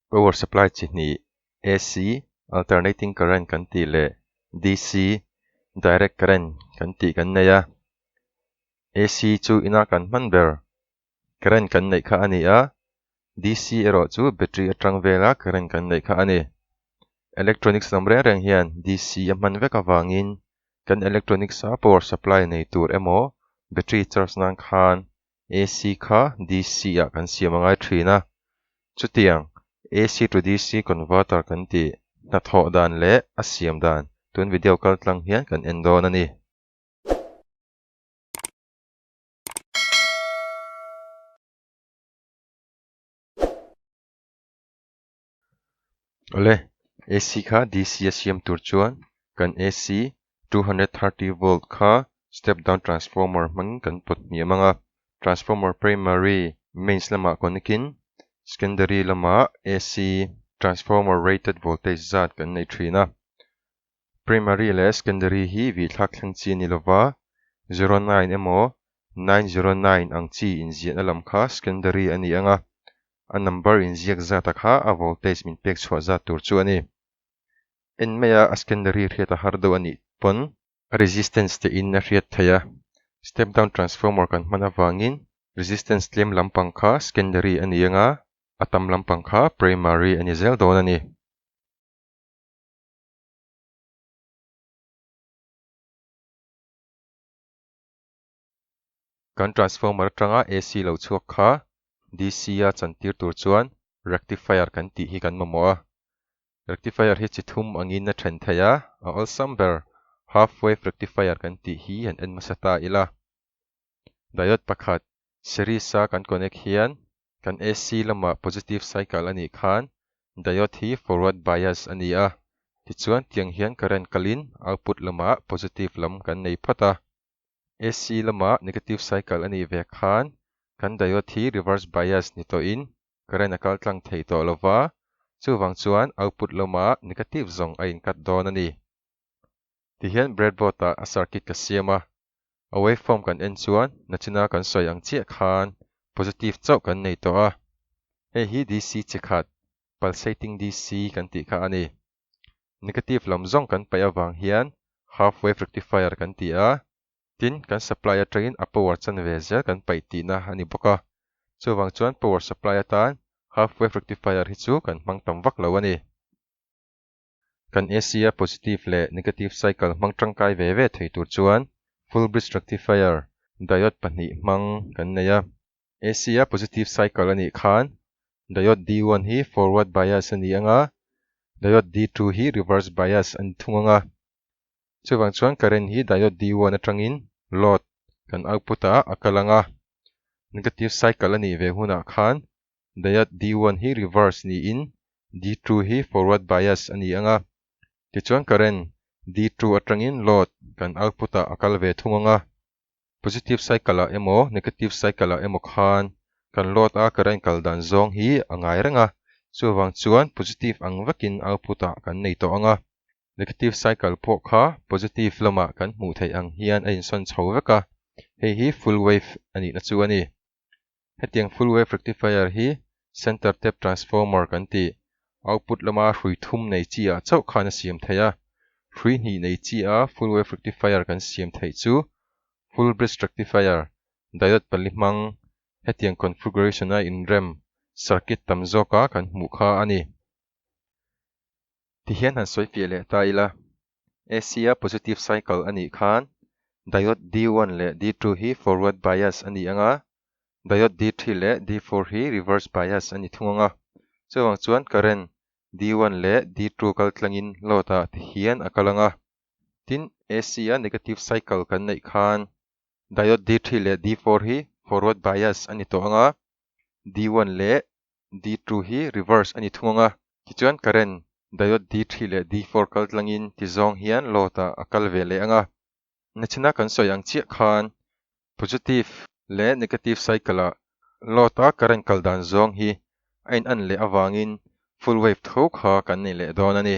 Power supply chi hnih, AC, alternating current, kan tih leh DC, direct current, kan tih kan nei a. AC chu ina kan hman ber current kan neih kha a ni a, DC erawh chu battery atang vela current kan neih kha a ni. Electronics lam reng reng hian DC a hman vek avangin kan electronics a power supply nei tur emaw battery charge nan khan AC kha DC ah kan siam a ngai thin a. Chutiang AC to DC converter kan tih hnathawh dan leh a siam dan tun video kal tlang hian kan en dawn a ni. Awle, AC kha DC a siam tur chuan kan AC two hundred thirty volt kha step down transformer hmangin kan pawt hmi a mang a. Transformer primary, mains, lamah connectin secondary lamah AC transformer rated voltage zat kan neih thin a. Primary leh Secondary hi vihthlak thleng chi a ni lo va, zero nine emaw nine zero nine ang chi inziahna lam kha Secondary a ni ang a, a number inziak zata kha a voltage min pek chhuah zat tur chu a ni. En maia a Secondary hriat a har deuh a nih pawn. Resistance te in a hriat thei a, step down transformer kan hman avangin Resistance tlem lampang kha Secondary a ni ang a, a tam lampang kha Primary a ni zel dawn a ni. Kan transformer atanga AC lo chhuak kha DC a chantir tur chuan rectifier kan tih hi kan mamawh a. Rectifier hi chi thum angin a then thei a, a awlsam ber half wave rectifier kan tih hi han en hmasa ta ila. Diode pakhat series a kan connect hian kan AC lama positive cycle a nih khan diode hi forward bias a ni a, tichuan tiang hian current kalin output lama positive lam kan nei phawt a. AC lama negative cycle a nih ve khan kan diode hi reverse bias ni tawhin current a kal tlang thei tawh lo va, chuvang chuan output lama negative zawng a inkat dawn a ni. Tihian breadboard ah a circuit ka siam a, a wave form kan en chuan nachina kan sawi ang chiah khan positive chauh kan nei tawh a, hei hi DC che khat, pulsating DC, kan tih kha a ni. Negative lam zawng kan paih avang hian half wave rectifier kan ti a, tin kan supply atangin a power chan ve zel kan paih tihna a ni bawk a, chuvang chuan power supply atan half wave rectifier hi chu kan hmang tam vak lo a ni. Kan ACR positive leh negative cycle hmang tangkai ve ve thei tur chuan full bridge rectifier diode pahnih hmang kan nei a. ACR positive cycle a nih khan diode D one hi forward bias a ni ang a, diode D two hi reverse bias a ni thung ang a. Chuvang chuan current hi diode D one atangin load kan output ah a kal ang a. Negative cycle a nih ve hunah khan Diode D one hi reverse niin D two hi forward bias a ni ang a, tichuan current D two atangin load kan output ah a kal ve thung ang a. Positive cycle ah emaw negative cycle ah emaw khan kan load a current kal dan zawng hi a ngai reng a, chuvang chuan positive ang vekin output ah kan nei tawh ang a, negative cycle pawh kha positive lamah kan hmuh theih ang hian a insawn chho vek a, hei hi full wave a nihna chu a ni. Hetiang full wave rectifier hi center tap transformer kan ti. Output lama hrui thum nei chiah chauh khan a siam theih a. Hrui hnih nei chiaha full wave rectifier kan siam theih chu full bridge rectifier, diode pali hmang, hetiang configuration a inrem circuit tam zawka kan hmuh kha a ni. Tihian han sawi fiah leh ta ila. Ac a positive cycle a nih khan diode D one leh D two hi forward bias a ni ang a, diode D three leh D four hi reverse bias a ni thung ang a. Chuvang chuan current D one leh D two kal tlangin load ah te hian a kal ang a. Tin, Ac a negative cycle kan neih khan diode D three leh D four hi forward bias a ni tawh ang a, D one leh D two hi reverse a ni thung ang a, tichuan current diode D three leh D four kal tlangin tizawng hian load ah a kal ve leh ang a. Nichina kan sawi ang chiah khan positive leh negative cycle ah load a current kal dan zawng hi a in an leh avangin full wave tho kha kan nei leh dawn a ni.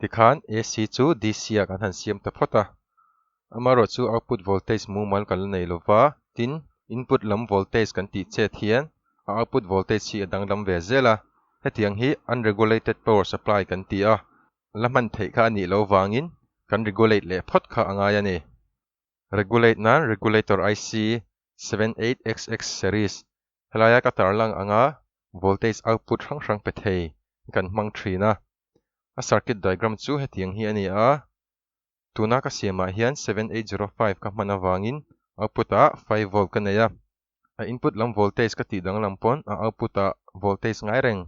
tikhan AC chu DC-ah kan han siam ta phawt a, amarawh chu output voltage mumal kan la nei lo va, tin, input lam voltage kan tih chet hian a output voltage hi a danglam ve zel a, hetiang hi unregulated power supply kan ti a, la hman theih kha a nih lo vangin kan regulate leh phawt kha a ngai a ni. regulate nan regulator IC seven eight xx series helaia ka tarlang anga voltage output hrang hrang pe thei hi kan hmang thin a, a circuit diagram chu heti ang hi a ni a, tuna ka siamah hian seven eight zero five ka hman avangin output ah five volt ka nei a, a input lam voltage ka tih danglam pawn a output ah voltage ngai reng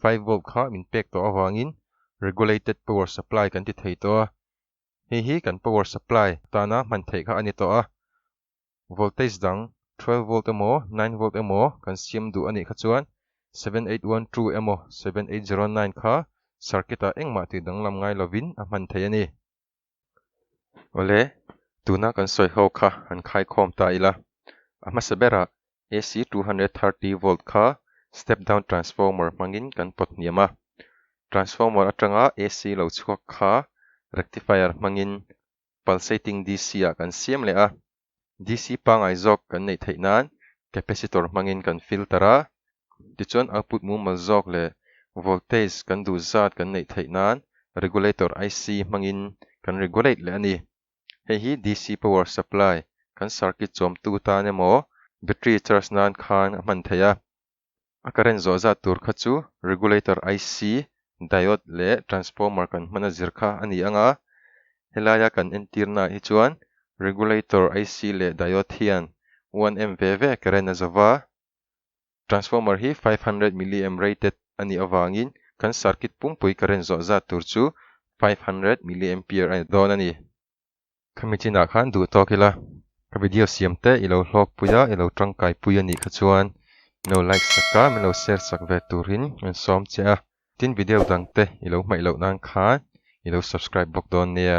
five volt kha min pek tawh avangin regulated power supply kan ti thei tawh a, Hei hi kan power supply atana hman theih kha a ni tawh a, voltage dang twelve volt emaw nine volt emaw kan siam duh a nih kha chuan seven eight one two emaw seven eight zero nine kha circuit ah engmah tih danglam ngai lovin a hman theih a ni. Awle, tuna kan sawi ho kha han khai khawm ta ila, a hmasa berah AC two hundred and thirty volt kha step down transformer hmangin kan pawthniam a. Transformer atanga AC lo chhuak kha rectifier hmangin pulsating DC-ah kan siam leh a. DC pangai zawk kan neih theih nan capacitor hmangin kan filter a, tichuan output mumal zawk leh voltage kan duh zat kan neih theih nan regulator IC hmangin kan regulate leh a ni. Hei hi DC power supply, kan circuit chuamtu tan emaw battery charge nan khan a hman thei a. A current zawh zat tur kha chu regulator IC, diode leh transformer kan hmana zir kha a ni ang a. Helaia kan entirnaah hi chuan regulator IC leh diode hian uan em ve ve current a za va. Transformer hi five hundred milliamp rated a nih avangin kan circuit pumpui current zawh zat tur chu five hundred milliampere a ni dawn a ni. Ka mitchinah khan duh tawk ila, ka video siam te i lo hlawkpui a, i lo tangkaipui a nih kha chuan min lo like sak a, min lo share sak ve turin min sawm che a, tin video dangte i lo hmaih loh nan khan i lo subscribe bawk dawn nia.